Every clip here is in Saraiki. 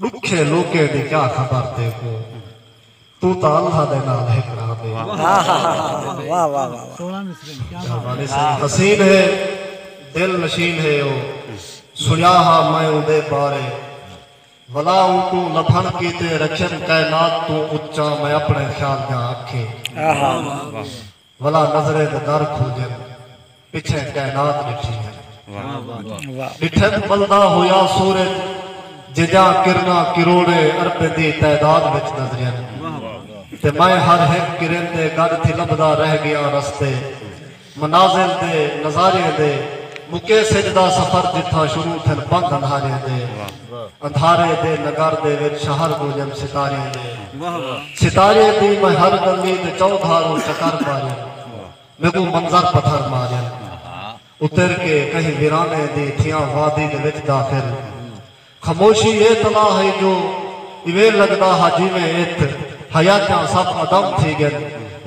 ڈکھے لوکیں دی کیا خبر تیکوں توں تاں اللہ دے نال ہکڑا دے شہبانی سائیں حسین ہے دل نشین ہے او سنیا ہا میں اوندے بارے ولا اونکوں لبھن کیتے رکھیم کائنات توں اچا میں اپنے خیال جا اکھیں ولا نظریں دے در کھلگن پچھیں کائنات ڈٹھی ہے۔ ڈٹھن ملدا ہویا سورج جیجاں کرناں کروڑیں اربیں دی تعداد وچ نظرین تے میں ہر ہک کرن دے گڈ تھی لبھدا رہ گیاں رستے منازل دے نظاریں دے مکیں سجھ دا سفر جتھاں شروع تھن بند اندھاریں دے اندھارے دے نگر دے وچ شہر گونجن ستاریں دے ستاریں دی میں ہر گلی تے چو دھاروں چکر پاریں میکوں منظر پتھر ماریں اتر کے کہیں ویرانے دی تھیاں وادی دے وچ داخل خاموشی یہ تلا ہے جو ایویں لگدا ہا جی میں ات حیاتیاں سب عدم تھی گن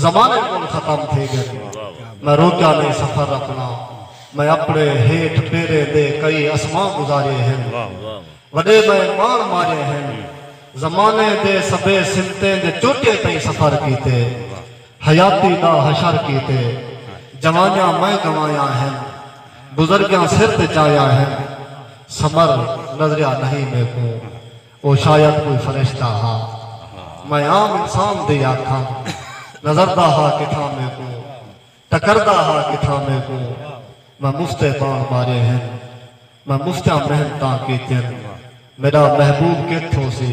زمانے کول ختم تھی گن میں روکیا نہیں سفر اپنا میں اپݨے ہیٹھ پیریں دے کئی اسماں گزارئے ہن۔ وݙے میں ماݨ مارئے ہن۔ زمانے دے سبھے سمتیں دے چوٹیں تئیں سفر کیتے۔ حیاتی دا حشر کیتے۔ جوانیاں میں گنوایاں ہن۔ بزرگیاں سر تے چایاں ہن۔ سمر نظریا نہی میکوں۔ او شاید کوئی فرشتہ ہا۔ میں عام انسان دی آکھاں۔ نظردا ہا کتھاں میکوں۔ ٹکردا ہا کتھاں میکوں میں مفتے بانڑ مارے ہن میں مفتیاں محنتاں کیتین میڈا محبوب کتھ ہوسی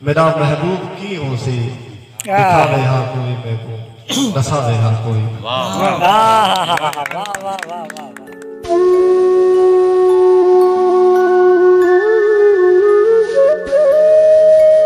میڈا محبوب کیں ہوسی ڈکھاوے ہا کوئی میکوں ڈساوے ہا کوئی میکوں